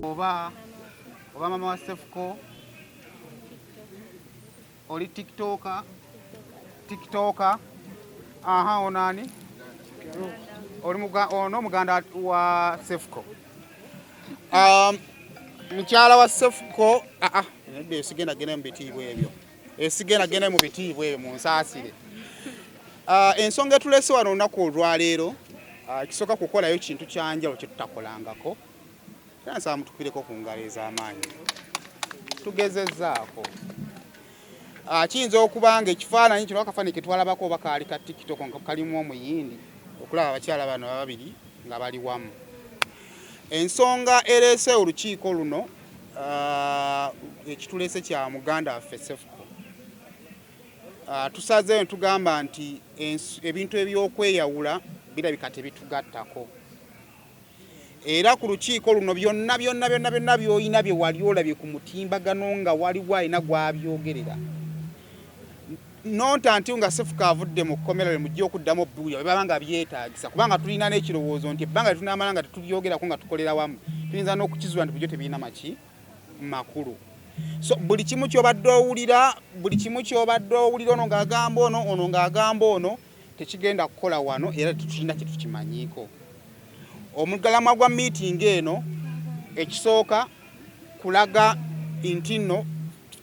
oba mama wa sefuko oli tiktoka tiktoka aha onani ono muganda wa sefuko um, mukyala wa sefuko aa ah, ah, nedda esigenda genda mu bitiibwa ebyo esigenda genda mu bitiibwa ebyo mu nsaasire ah, ensonga etulese wano olunaku olwaleero ah, kisooka kukolayo kintu kyanjalo kyetutakolangako era nsaba mutukireko ku ngalo ez'amaanyi tugezezaako ah, kiyinza okuba nga ekifaananyi kino akafaananyi ketwalabako oba kaali ka tiktok nga kalimu omuyindi okulaba abakyala bano babiri nga bali wamu ensonga ereese olukiiko luno Ah, ekitulese kya muganda waffe sefuko ah, tusazeeyo netugamba nti ebintu ebyokweyawula birabika tebitugattako era ku lukiiko luno byonna byonna byonna byonna byolina bye wali olabye ku mutimbagano nga waliwo alina gwabyogerera nonta nti nga sefuka avudde mu kkomera lwe mujja okuddamu obubuulira bwe baba nga byetaagisa kubanga tulina n'ekirowoozo nti ebbanga lye tunaamala nga tetubyogerako nga tukolera wamu tuyinza n'okukizuula nti bujo tebirina maki makulu so buli kimu ky'obadde owulira buli kimu ky'obadde owulira ono ng'agamba ono ono ng'agamba ono tekigenda kukola wano era tetulina kye tukimanyiiko omugalamwa gwa miitingi eno ekisooka kulaga nti nno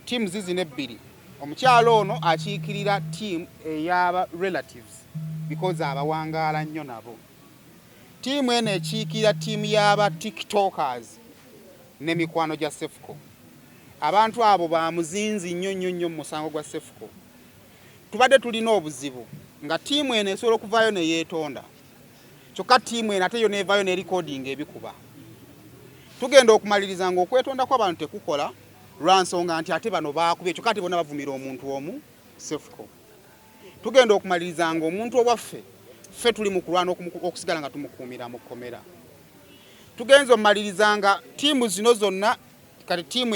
tiimu zizina ebbiri Omukyala ono akiikirira ttiimu ey'aba Relatives because abawangaala nnyo nabo. Ttiimu eno ekiikirira ttiimu y'aba Tiktokers ne mikwano gya Cephco. Abantu abo ba muzinzi nnyo nnyo nnyo mu musango gwa Cephco. Tubadde tulina obuzibu nga ttiimu eno esobola okuvaayo ne yeetonda kyokka ttiimu eno ate yo neevaayo ne likodinga ebikuba. Tugenda okumaliriza ng'okwetonda kw'abantu tekukola. lwa nsonga nti ate bano baakubye kyokka ate bona bavumira omuntu omu sefuko tugenda okumaliriza nga omuntu owaffe ffe tuli mu kulwana okusigala nga tumukuumira mu kkomera tugenza omumaliriza nga ttiimu zino zonna kati ttiimu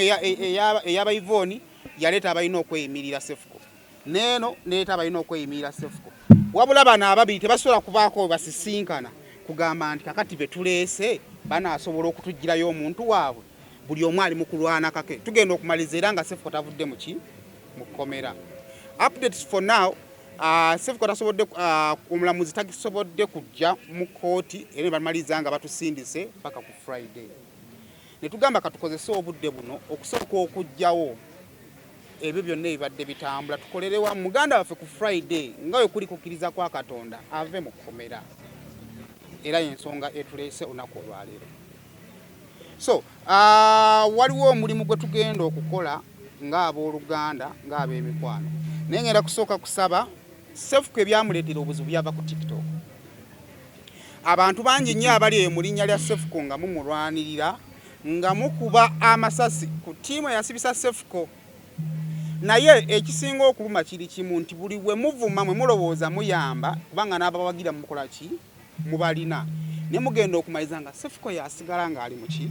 eyabayivooni yaleeta abalina okweyimirira sefuko neeno neeta abalina okweyimirira sefuko wabula bano ababiri tebasobola kubaako webasisinkana kugamba nti kakati betuleese banaasobola okutugirayo omuntu waabwe buli omu ali mu kulwana kake tugenda okumaliriza era nga sefuko tavudde muki mu kkomera updates for now uh, sefuko tasobodde uh, omulamuzi takisobodde kujja mu kooti era nebamaliriza nga batusindise paka ku friday netugamba katukozese obudde buno okusooka okujjawo ebyo byonna ebibadde bitambula tukolerewa muganda waffe ku friday nga we kuli kukkiriza kwa katonda ave mu kkomera era yensonga etuleese olunaku olwaleero so ah, waliwo omulimu gwe tugenda okukola ng'abooluganda ng'ab'emikwano naye ngenda kusooka kusaba sefuku ebyamuleetera obuzibu byava ku tiktok abantu bangi nnyo abali eyo mu linnya lya sefuko nga mumulwanirira nga mukuba amasasi ku ttiimu eyasibisa sefuko naye ekisinga okuluma kiri kimu nti buli we muvuma mwe mulowooza muyamba kubanga n'abawagira mukola ki mubalina ne mugenda okumaliza nga sefuko yasigala nga ali muki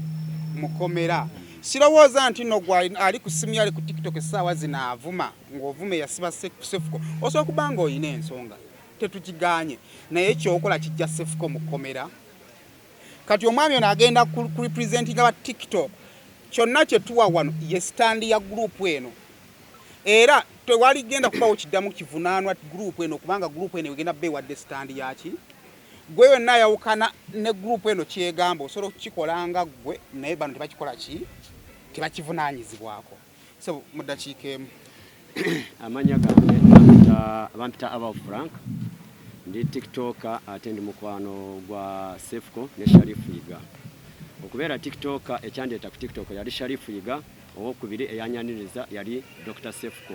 mukomera sirowooza nti no gwa ali ku simu yali ku tiktok essaawa zino avuma ng'ovuma eyasiba sefuko osobola kuba nga olina ensonga tetukiganye naye kyokola kijja sefuko mukomera kati omwami ono agenda ku representinga ba tiktok kyonna kyetuwa wano ye sitandi ya gurupu eno era tewali genda kubawo kiddamu kivunaanwa gurupu eno kubanga gurupu eno egenda kuba ewadde sitandi yaki gwe yonna ayawukana ne gurupu eno kyegamba osobola okukikola nga gwe naye bano tebakikola ki tebakivunaanyizibwako so mu ddakiika emu amanya gange bampita aba frank ndi tiktoka ate ndi mukwano gwa sefuko ne sharifu yiga okubeera tiktoka ekyandeeta ku tiktok yali sharifu yiga Owokubiri eyanyaniriza yali Dr. Sefuko.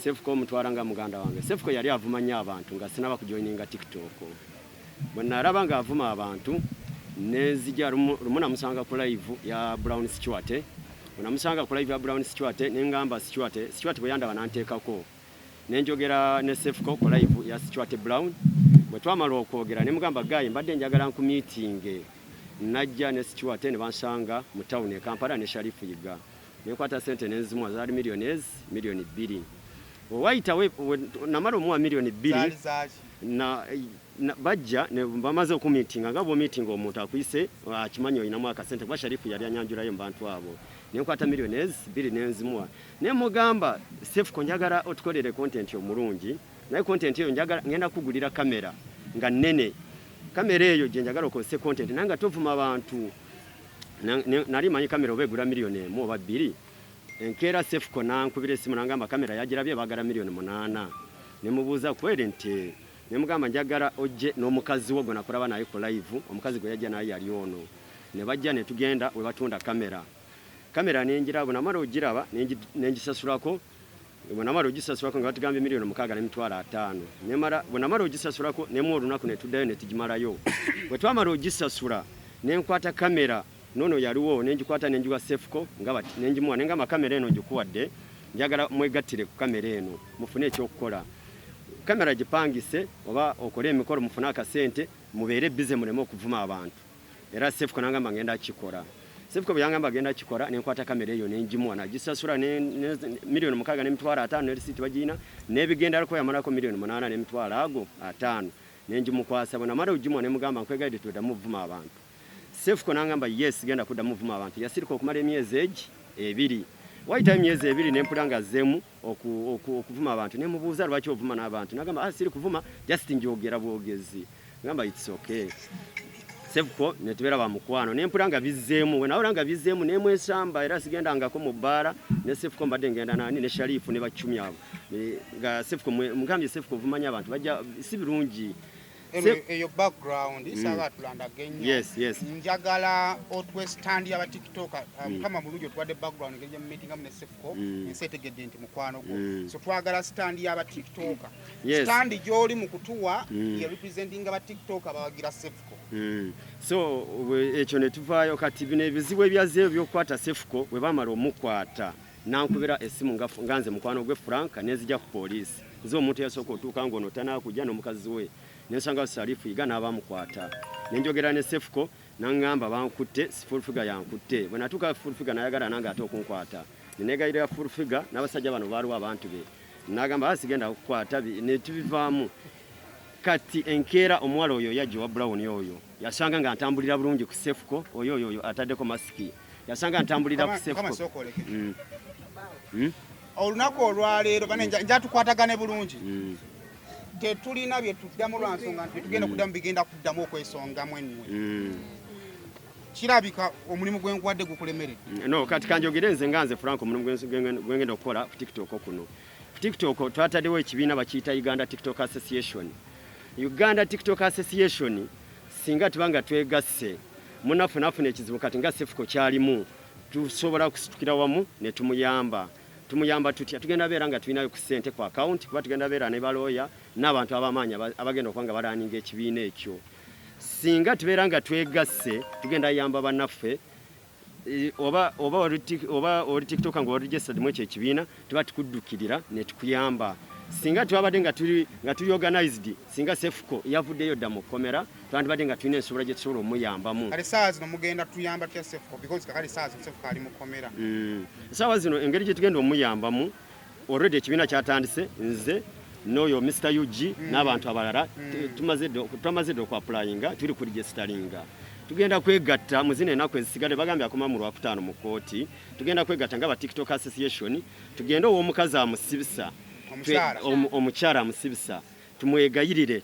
Sefuko omutwala nga muganda wange. Sefuko yali avuma nnyo abantu nga sinaba kujoininga TikTok. Bwe nalaba ng'avuma abantu nenzija lumu namusanga ku live ya Brown Stewart. Bwe namusanga ku live ya Brown Stewart ne ngamba Stewart, Stewart bwe yandaba nanteekako. ne njogera ne Sefco ku live ya Stuart Brown. Bwe twamala okwogera ne mugamba gayi, mbadde njagala nkumiitinge. Najja ne Stuart ne bansanga mu tawuni e Kampala ne Sharifu Yiga ne nkwata ssente ne nzimuwa zaali miliyoni ezi miliyoni bbiri. Wayita namala omuwa miliyoni bbiri bajja bamaze okumiitinga nga bwomiitinga omuntu akuyise akimanyi olinamu akasente kuba Sharifu yali anyanjulayo mu bantu abo ne nkwata miliyoni ezi bbiri ne nzimuwa ne mugamba Sefuko njagala otukolere content omulungi naye content eyo njagala ngenda kugulira kamera nga nene kamera eyo gye njagala okozese content naye nga tovuma bantu nali manyi kamera oba egula miliyoni emu oba bbiri enkeera Sefuko nankubira esimu nangamba kamera yagirabye bagala miliyoni munaana ne mubuuza kweri nti ne mugamba njagala ojje n'omukazi wo gwe nakulaba naye ku live omukazi gwe yajja naye yali ono ne bajja ne tugenda we batunda kamera kamera nenjira bwe namala ogiraba nengisasulako bwe namala ogisasulako nga batugambye miliyoni mukaaga n'emitwalo ataano nemala bwe namala ogisasulako nemu olunaku ne tuddayo ne tugimalayo bwe twamala ogisasula ne nkwata kamera nono yaliwo ne ngikwata ne ngiwa sefuko nga bati ne ngimuwa ne ngamba kamera eno ngikuwadde njagala mwegattire ku kamera eno mufune ekyokukola kamera gipangise oba okole emikolo mufune akasente mubeere bize muleme okuvuma abantu era sefuko nangamba ngenda kikola sefuko bwe yangamba agenda kikola ne nkwata kamera eyo ne ngimuwa nagisasula ne miliyoni mukaaga n'emitwalo ataano ne lisiiti bagirina n'ebigendalako yamalako miliyoni munaana n'emitwalo ago ataano ne ngimukwasa bwe namala ogimuwa ne mugamba nkwegaidde toddamu ovuma abantu sefuko nangamba yes genda kuddamu ovuma abantu yasirika okumala emyezi egi ebiri wayitayo emyezi ebiri ne mpula nga zzeemu oku, oku, okuvuma abantu nemubuuza lwaki ovuma n'abantu nagamba ah, siri kuvuma just njogera bwogezi ngamba its okay sebuko netubeera bamukwano nempula nga bizzeemu wenawula nga bizzeemu nemwesamba era sigendangako mu bbaala ne sefuko mbadde ngenda nani ne sharifu ne bacumi abo nga sefuko mugambye sefuko ovumanya abantu bajja si birungi eyo background mm. sawa tulandage nnyo yes, yes. njagala otwe stand ya batiktok ah, mm. mukama mm. mulungi otuwadde background ngeri gyemumitinga mu nesefuko mm. ensi etegedde nti mukwano gwo mm. so twagala stand ya batiktok yes. stand gyoli mu kutuwa mm. ye representing batiktok abawagira sefuko mm. so ekyo netuvaayo kati bino ebizibu ebyazeeyo byokukwata sefuko bwe bamala omukwata nankubira essimu nga nze mukwano gwe Frank nenzija ku poliisi nze omuntu eyasooka otuuka ng'ono tanaakujja n'omukazi we nensanga salifu yiga n'abamukwata nenjogera ne sefuko nangamba bankutte sifulfiga yankutte bwe natuuka fulfiga nayagala nange ate okunkwata nenegayirira fulfiga n'abasajja bano baaliwo abantu be nagamba ah, sigenda kukwata netubivaamu kati enkeera omuwala oyo yajja owa brown oyo yasanga nga ntambulira bulungi ku sefuko oyo oyo oyo ataddeko masiki yasanga ntambulira ku sefo mm. mm? olunaku olwaleero bane mm. njatukwatagane bulungi mm. tetulina byetuddamu lwansonga nti byetugenda mm. kuddamu bigenda kuddamu okwesongamu ennwe mm. kirabika omulimu gwenkuwadde gukulemeredde mm, no kati kanjogere nze nga nze frank omulimu gwengenda okukola ku tiktok kuno ku tiktok twatadewo ekibiina bakiyita uganda tiktok association uganda tiktok association singa tuba nga twegasse munaffe nafuna ekizibu kati nga sifuko kyalimu tusobola kusitukira wamu ne tumuyamba tumuyamba tutya tugenda beera nga tulinayo ku ssente ku akawunti kuba tugenda beera ne balooya n'abantu abamaanyi abagenda okuba nga balaaninga ekibiina ekyo singa tubeera nga twegasse tugenda yamba bannaffe eh, oba oba oli tiktoka nga oli registered mu ekyo ekibiina tuba tukuddukirira ne tukuyamba singa twabadde nga tuli nga tuli organized singa sefuko yavuddeyo dda mu kkomera twandibadde nga tulina ensobola gye tusobola omuyambamu kale saawa zino mugenda tuyamba tya sefuko because kakale saawa zino sefuko ali mu kkomera mm. saawa zino engeri gye tugenda omuyambamu already ekibiina kyatandise nze n'oyo mr ug mm. n'abantu abalala mm. twamaze dda okuapulayinga tuli ku regisitalinga tugenda kwegatta mu zino enaku ezisigadde bagambye akoma mu lwakutaano mu kkooti tugenda kwegatta nga ba TikTok Association tugende ow'omukazi amusibisa omukyala amusibisa tumwegayirire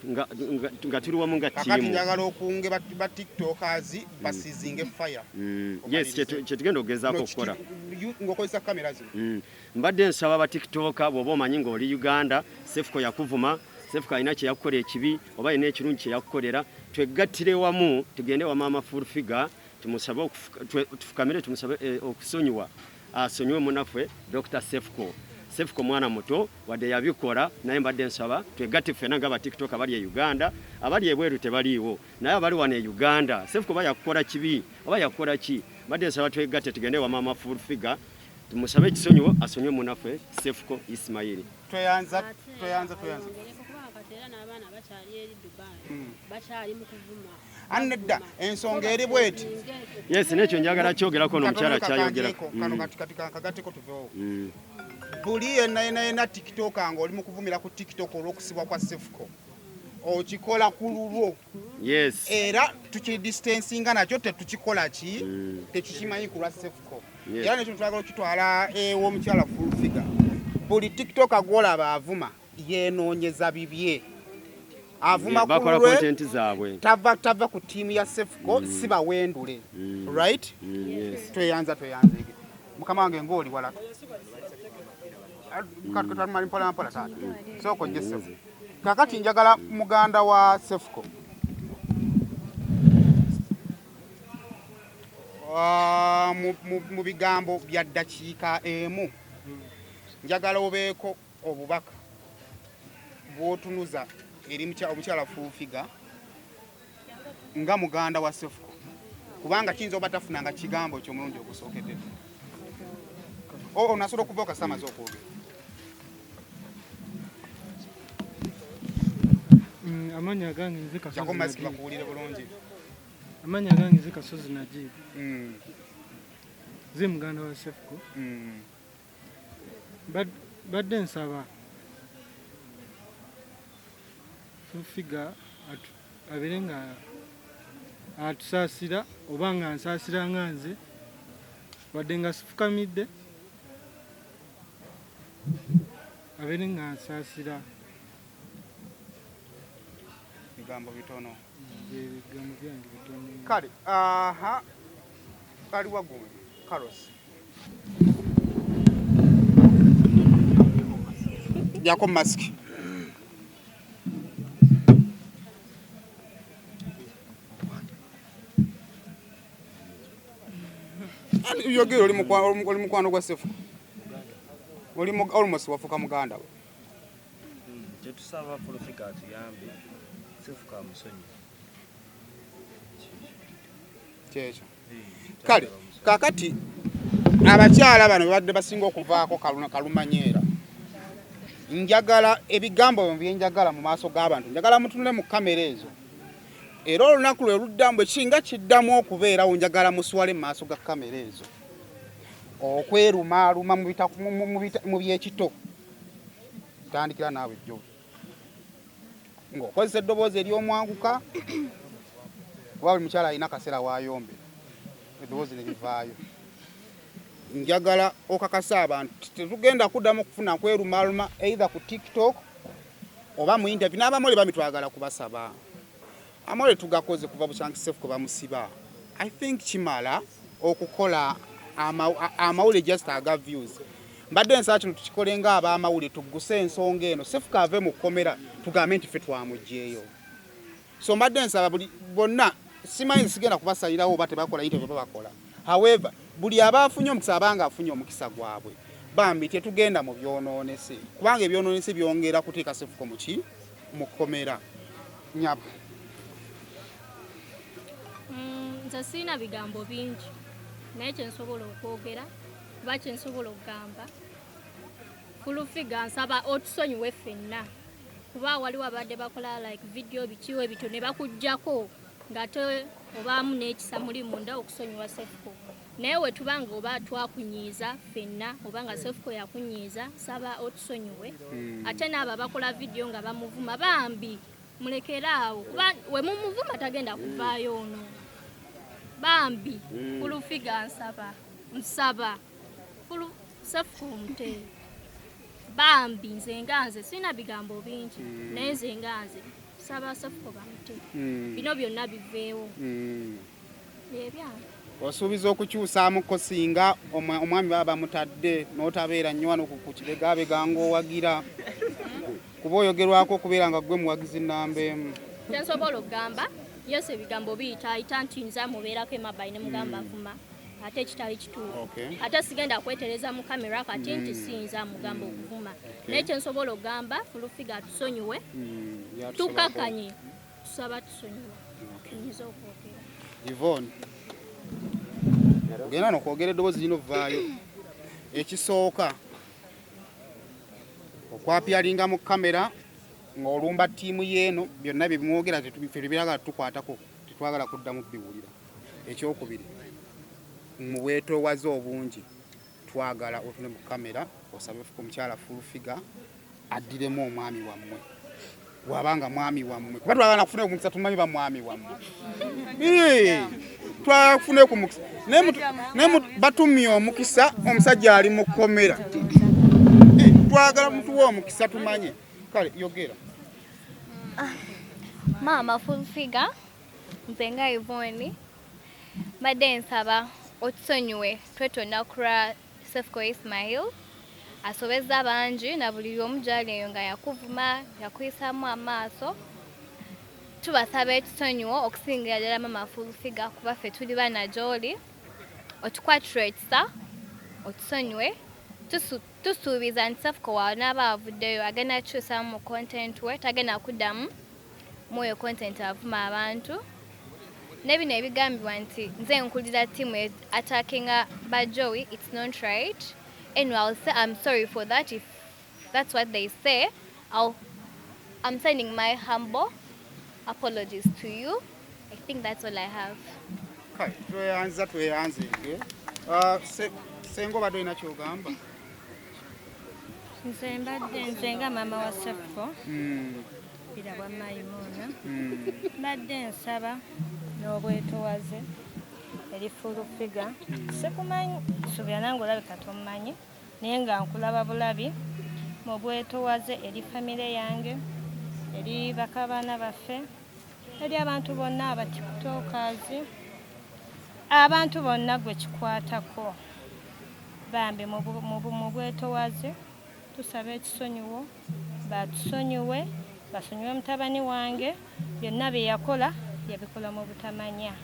nga tuli wamu nga tiimu njagala okunge ba tiktokers mm. basizinge fire mm. yes kyetugenda okugezaako okukola ngokozesa kamera zino mm. mbadde nsaba ba tiktoka bwoba omanyi ng'oli uganda sefuko yakuvuma sefuko alina kyeyakukola ekibi oba alina ekirungi kyeyakukolera twegattire wamu tugende wamaama full figure Tumusabe tufukamire tumusabe eh, okusonyiwa asonyiwe munaffe Dr. Sefco Sefco mwana muto wadde yabikola naye mbadde nsaba twegatte ffena nga batiktok abali e Uganda abali ebweru tebaliiwo naye abali wano e Uganda Sefco oba yakukola kibi oba yakukola ki mbadde nsaba twegatte tugende wa mama full figure tumusabe ekisonyiwo asonyiwe munaffe Sefco Ismail tweyanza tweyanza tweyanza era n'abaana bakyali eri Dubai hmm. bakyali mu kuvuma Anedda ensonga eri bweti. Yes, nekyo njagala kyogerako no mukyala kyayogera. Kano mm. kati kati kagateko tuvewo. Mm. Buli yena yena yena TikTok ango oli mukuvumira ku TikTok olwokusibwa kwa Sefuko. Okikola ku lulwo. Yes. Era tuki distancinga nakyo tetukikola ki mm. tekikimanyi ku lwa Sefuko. Yes. Era nekyo twagala okitwala ewo eh, mukyala full figure. Buli TikTok agwola baavuma. yenoonyeza bibye avuma ku lulwe tava tava ku tiimu ya sefuko mm. si bawendule mm. right mm, tweyanza tweyanza ebyo mukama wange ng'oli wala katumali mpola mpola taata sooko nje sefu kakati njagala muganda wa sefuko ah, mu bigambo bya ddakiika emu njagala obeeko obubaka bwotunuza eri omukyala fuufiga nga muganda wa sefuko kubanga kiyinza oba tafunanga kigambo kyomulundi ogusookedde onasobola okuva okasamaze okwogera mm, amanya gange nze kasozibakuwulire bulungi amanya gange nze kasozi najibu mm. ze muganda wa sefuko mm. badde nsaba fufiga abere nga atusaasira oba nga nsaasira nga nze wadde nga sifukamidde abere nga nsaasira bigambo bitono kale aha ali wagundi karosi jako mask yogera oli mukwano gwa sefu oli almost wafuka muganda we kyetusaba fulfiga atuyambe sifuka musonyi kyekyo kale kakati abakyala bano bebadde basinga okuvaako kaluna kalumanyeera njagala ebigambo byo byenjagala mu maaso g'abantu njagala mutunule mu kamera ezo era olunaku lwe luddamu ekinga kiddamu okubeerawo njagala muswale mu maaso ga kamera ezo okwerumaaluma mu byekito tandikira naawe jjo ng'okozesa eddoboozi ery'omwanguka kuba buli mukyala alina akaseera waayombe eddoboozi ne livaayo njagala okakasa abantu tetugenda kuddamu okufuna kwerumaluma eitha ku tiktok oba mu interview n'abamuli bamitwagala kubasaba Amore tugakoze kuva buchanki safe kuba musiba. I think kimala okukola amawule just aga views mbadde ensala kino tukikole nga abamawule tugguse ensonga eno sefuka ave mu kkomera tugambe nti fe twamugyeyo so mbadde nsaba buli bonna simanyi sigenda kubasalirawo oba tebakola yite baba bakola however buli aba afunye omukisa abanga afunye omukisa gwabwe bambi tetugenda mu byonoonese kubanga ebyonoonese byongera kuteeka sefuko muki mu kkomera nyabo mm, nze sirina bigambo bingi naye kyensobola okwogera kuba kyensobola okugamba fulufiga nsaba otusonyiwe ffenna kuba waliwo abadde bakola like vidiyo bikiwo ebityo ne bakugjako ngate obaamu n'ekisa muli munda okusonyiwa sefuko naye wetuba nga oba twakunyiiza fenna oba nga sefuko yakunyiiza saba otusonyiwe hmm. ate naabo abakola vidiyo nga bamuvuma bambi mulekere awo kuba wemumuvuma tagenda kuvaayo ono bambi hmm. fulufiga nsaba nsaba sefuko omute bambi nze nga nze sirina bigambo bingi hmm. naye nze nga nze saba sefuko bamute bino byonna biveewo osuubiza okukyusaamuko singa omwami baba bamutadde n'otabeera nnyo wano ku kibegaabega ng'owagira kuba oyogerwako okubeera nga ggwe muwagizi nnamba emu kyensobola okugamba yesu ebigambo biyita ayita nti nza mubeerako emabayi ne mugamba hmm. vuma ate ekitali kituufu ate sigenda kwetereza mu kamera kati hmm. nti siyinza mugamba okuvuma naye kyensobola okugamba fulufiga tusonyiwe hmm. tukakanye tusaba tusonyiwa tuyinza okwogera ivon ogenda nokwogera eddoboozi lino vvaayo ekisooka okwapyalinga mu kamera ng'olumba ttiimu yeeno byonna bye bimwogera fe tebiragala tukwatako tetwagala kuddamu biwulira ekyokubiri mu bwetoowaze obungi twagala otune mu kamera osabe omukyala full figure addiremu omwami wammwe waba nga mwami wammwe kuba twagala kufuna omukisa tumanyi ba mwami wammwe twafuna ku mukisa naye batumye omukisa omusajja ali mu kkomera twagala mutuwa omukisa tumanye kale yogera ah, maama full figure nze nga ivoni Mbadde nsaba otusonyiwe twetonda kulwa Cephco Ismail asobezza bangi na buli omu gyali eyo nga yakuvuma yakuyisamu amaaso tubasaba ekisonyiwo okusingira ddala mama fulfiga kuba ffe tuli baana gyoli otukwatira ekisa otusonyiwe tusuubiza nti Cephco wanaaba avuddeyo agenda kukyusamu mu content we tagenda kuddamu Mwoyo content avuma abantu ne bino ebigambibwa nti nze nkulira timu e- attackinga ba joey its not right anyway i'll say i'm sorry for that if that's what they say I'll, i'm sending my humble apologies to you i think that's all i have Kai, tweyanza tweyanze nge Ah, se- senga obadde olina kyogamba nze mbadde nze nga maama wa sefuko Mm. bira bwa mayimuuna hmm. mbadde nsaba n'obwetowaze eri fulu figa hmm. sikumanyi subira nange olabika tommanyi naye nga nkulaba bulabi mu bwetowaze eri famire yange eri bakabaana baffe eri abantu bonna abatikutookazi abantu bonna gwe kikwatako bambi mu bwetowaze Tusaba ekisonyiwo batusonyiwe basonyiwe mutabani wange byonna bye yakola yabikola mu butamanya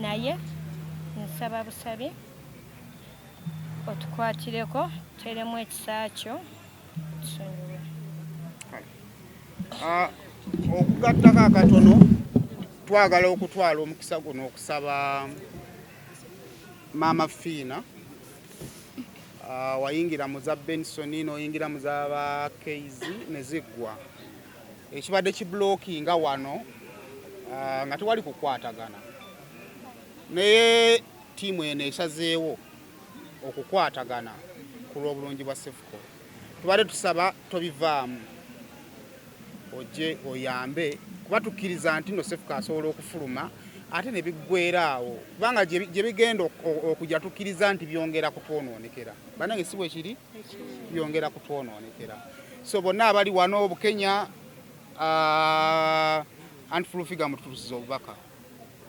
naye nsaba busabi otukwatireko teremu ekisa kyo tusonyiwe ah, okugattako akatono twagala okutwala omukisa guno okusaba maama fiina Ah, wayingira mu za benson noyingira mu za ba kz neziggwa ekibadde kiblockinga wano ah, nga tewali kukwatagana naye tiimu eno esazeewo okukwatagana ku lw'obulungi bwa sefuko tubadde tusaba tobivaamu oje oyambe kuba tukkiriza nti no sefuka asobola okufuluma ate ne biggwera awo kubanga gye bigenda okujja tukkiriza nti byongera kutwonoonekera banange si bwekiri byongera kutwonoonekera so bonna abali wano obukenya ah, anti fulufiga mututusiza obubaka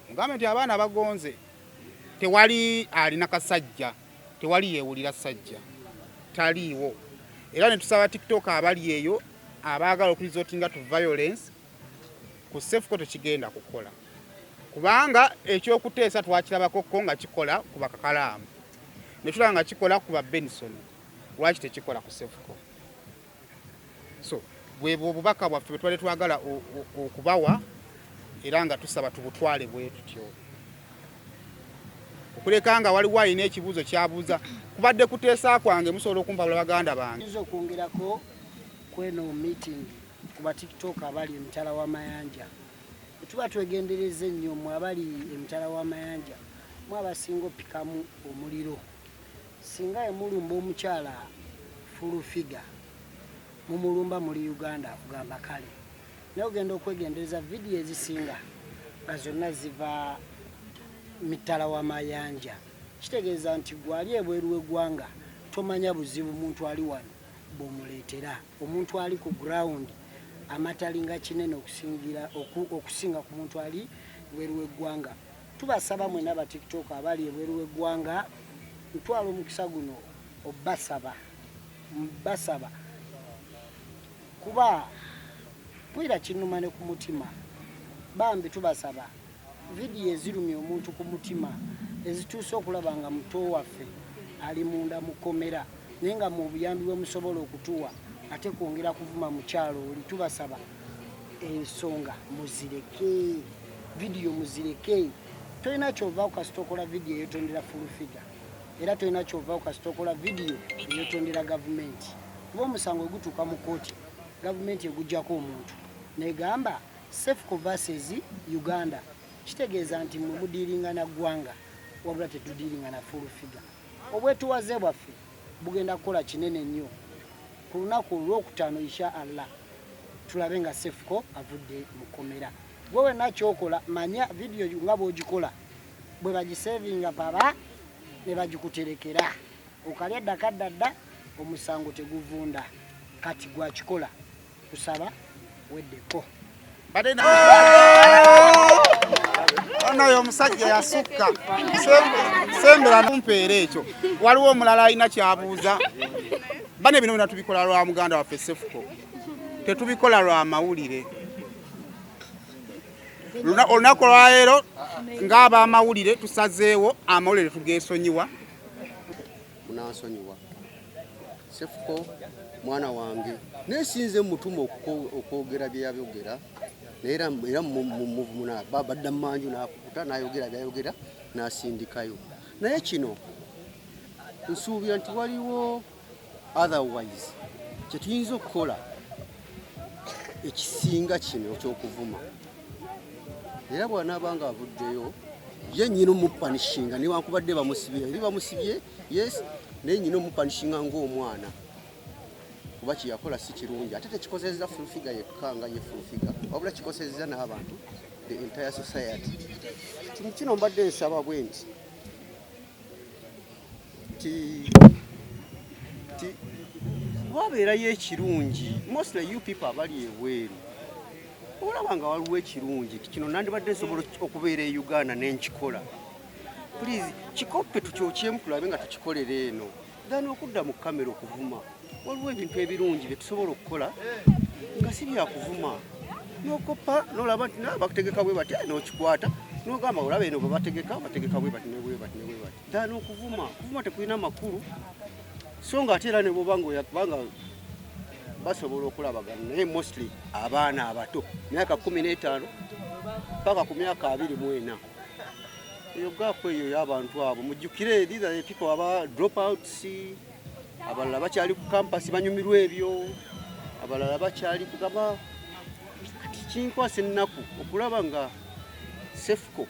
mugambe nti abaana bagonze tewali alina kasajja tewali yewulira sajja taliiwo era netusaba tiktok abali eyo abaagala okulizotinga to violence ku sefuko tekigenda kukola kubanga ekyokuteesa twakirabakokko nga kikola ku bakakalaamu netulaba nga kikola ku ba benison lwaki tekikola ku sefuko so bwebwo obubaka bwaffe bwetwali twagala okubawa era nga tusaba tubutwale bwetutyo okuleka nga waliwo alina ekibuuzo kyabuuza kubadde kuteesa kwange musobola okumpabula baganda bange yinza okwongerako kweno meeting ku batiktok abali emitala w'amayanja tuba twegendereza ennyo mwe abali emitala w'amayanja mwe abasinga opikamu omuliro Singa yamulumba omukyala full figure mumulumba muli Uganda akugamba kale naye ogenda okwegendereza vidiyo ezisinga nga zonna ziva mitala wa mayanja kitegeeza nti gwali ebweru w'eggwanga tomanya buzibu muntu ali wano bwomuleetera omuntu ali ku ground amatalinga kinene okusingira okusinga ku muntu ali bweru w'eggwanga Tubasaba mwena ba TikTok abali ebweru w'eggwanga ntwala omukisa guno obbasaba mbasaba kuba mpulira kinnuma ne ku mutima bambi tubasaba vidiyo ezirumya omuntu ku mutima ezituuse okulaba nga muto waffe ali munda mukomera naye nga mu obuyambi bwe musobola okutuwa ate kwongera kuvuma mukyalo oli tubasaba ensonga muzireke vidiyo muzireke tolina kyovaaku kasita okola vidiyo eyetondera fulufiga era tolina kyovaaku kasita okola vidiyo eyetondera gavumenti kuba omusango ogutuuka mu kooti gavumenti egujjako omuntu negamba safe covases uganda kitegeeza nti mwe mudiiringa na ggwanga wabula tetudiiringa na fulufiga obwetuwaze bwaffe bugenda kukola kinene nnyo ku lunaku olwokutaano insha allah tulabe nga sefuko avudde mu kkomera gwe wenna kyokola manya vidiyo nga bwogikola bwe bagisevinga baba ne bagikuterekera okalya ddakaddadda omusango teguvunda kati gwakikola Kusaba weddeko. Badena. Ono yo musajja yasukka. Sembera numpeere ekyo. Waliwo omulala alina kyabuuza. Bane bino bina tubikola lwa muganda waffe Sefuko. Tetubikola lwa mawulire. Olunaku lwa leero ng'abamawulire tusazeewo amawulire tugeesonyiwa. munansonyiwa sefuko mwana wange naye sinze mutuma okwogera byeyayogera era mumuvumuna badda mumanju nakukuta nayogera byayogera nasindikayo naye kino nsuubira nti waliwo otherwise kyetuyinza okukola ekisinga kino ekyokuvuma era bwanaaba nga avuddeyo ye nyina omupanishinga newankubadde bamusibye eri bamusibye yes naye nyina omupanishinga ngaomwana kuba kyeyakola si kirungi ate tekikozeza fulfiga yekka nga ye fulfiga wabula kikozeza n'abantu the entire society kino mbadde nsaba bwe nti wabeerayo ekirungi mostly you people abali ebweru olaba nga waliwo ekirungi kino nandibadde nsobola okubeera e uganda nenkikola please kikoppe tukyokyemu tulabe nga tukikolera eno gana okudda mu kamera okuvuma waliwo ebintu ebirungi byetusobola okukola nga si byakuvuma nokoppa nolaba nti nabakutegeka bwe bati nokikwata nogamba olaba eno bwebategeka bategeka bwe bati nebwe bati nebwe bati dani okuvuma okuvuma tekulina makulu so nga ate era ne bwoba ngaoyakubanga basobola okulabagana naye mostly abaana abato myaka kumi n'etaano paka ku myaka abiri mu ena eyo gaapu eyo y'abantu abo mujjukire these are the people aba drop outs abalala bakyali ku kampasi banyumirwa ebyo abalala bakyali kugaba kati kinkwasa ennaku okulaba nga sefuko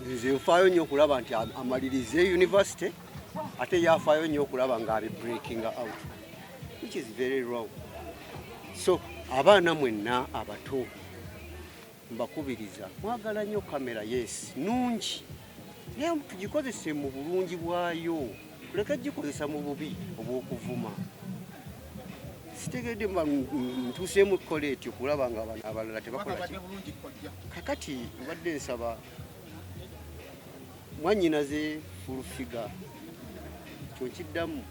nze nfaayo nnyo okulaba nti amalirize university ate yafaayo nnyo okulaba nga abi breaking out which is very wrong so abaana mwenna abato mbakubiriza mwagala nnyo kamera yes nungi naye tugikozese mu bulungi bwayo leka gikozesa mu bubi obw'okuvuma sitegedde ntuuseemu kukola etyo kulaba nga abana abalala tebakola kakati obadde nsaba mwanyinaze fulufiga kyonkiddamu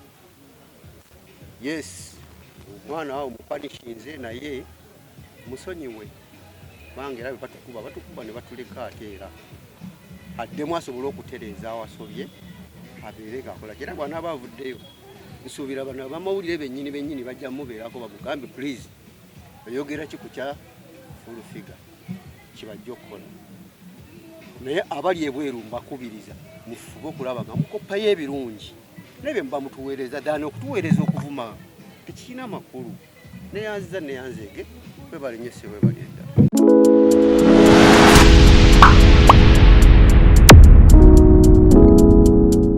yes omwana awo mupanishinze naye musonyiwe bange era batukuba batukuba ne batuleka ate era addemu asobole okutereeza awasobye abeere ngakola era bwanaaba avuddeyo nsuubira bano abamawulire bennyini bennyini bajja mubeerako bamugambe please oyogera ki ku kya fulufiga kibajja okukola naye abali ebweru mbakubiriza mufube okulaba nga mukoppayo ebirungi nebye muba mutuweereza ddaana okutuweereza okuvuma tekirina makulu neyanziza neyanzeege webale nyo ssebo webale